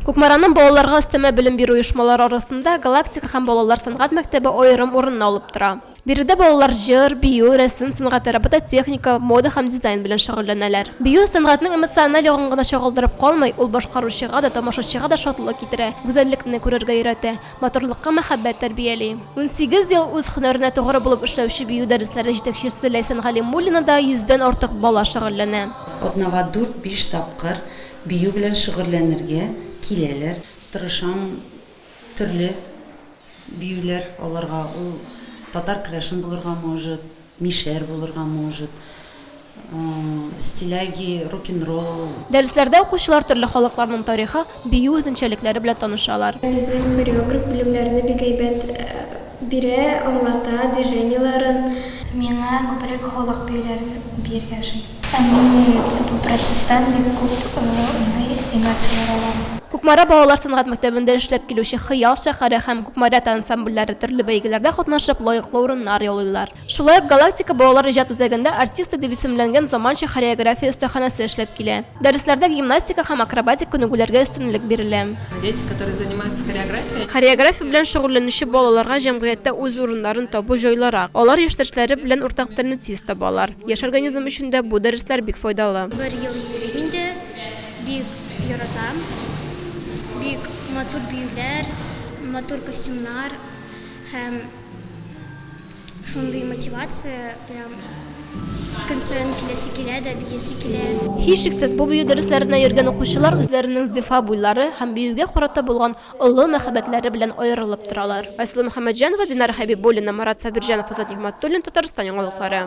Кукмараның балаларга өстәмә белем бирү оешмалары арасында Галактика һәм балалар сәнгать мәктәбе аерым урынны алып тора. Биредә балалар җыр, бию, рәсем сәнгате, робототехника, мода һәм дизайн белән шөгыльләнәләр. Бию, сәнгатьнең эмоциональ ягын гына чагылдырып калмый, ул башкаручыга да, тамашачыга да шатлык китерә, гүзәллекне күрергә өйрәтә, матурлыкка мәхәббәт тәрбияли. Унсигез ел үз һөнәренә тугры булып эшләүче бию дәресләре җитәкчесе Ләйсән Галимуллинада йөздән артык бала шөгыльләнә. Атнага дүрт-биш тапкыр Бию белән шөгыльләнергә киләләр. Тырышам, төрле биюләр алырга. Ул татар керәшен булырга может, мишәр булырга может, стиляги, рок-н-ролл. Дәресләрдә укучылар төрле халыкларның тарихы, бию үзенчәлекләре белән танышалар. Безнең хореограф белемнәрне бик әйбәт бирә, аңлата, движениеләрен. Миңа күбрәк халык биюләрен биергә ошый. Әни протестан, бик күп уйный, эмоцияләр ала. Кукмара балалар сәнгать мәктәбендә эшләп килүче Хыял шәһәре һәм Кукмарята ансамбльләре төрле бәйгеләрдә катнашып, лаеклы урыннар яулыйлар. Шулай ук Галактика балалар иҗат үзәгендә Артисты дип исемләнгән заманча хореография өстәханәсе эшләп килә. Дәресләрдә гимнастика һәм акробатик күнегүләргә өстенлек бирелә. Дети, которые занимаются хореографией. Хореография белән шөгыльләнүче балаларга җәмгыятьтә үз урыннарын табу җайлырак. Алар яшьтәшләре белән уртак телне тиз табалар. Яшь организм өчен дә бу дәресләр бик файдалы. Бер ел йөрим инде, бик яратам. Бик матур биюләр, матур костюмнар һәм шундый мотивация, прям көн саен киләсе килә дә, биесе килә. Һичшиксез, бу бию дәресләренә йөргән укучылар үзләренең зифа буйлары һәм биюгә карата булган олы мәхәббәтләре белән аерылып торалар. Айсылу Мөхәммәтҗанова, Динара Хәбибуллина, Марат Сабирҗанов, Азат Нигъмәтуллин, Татарстан яңалыклары.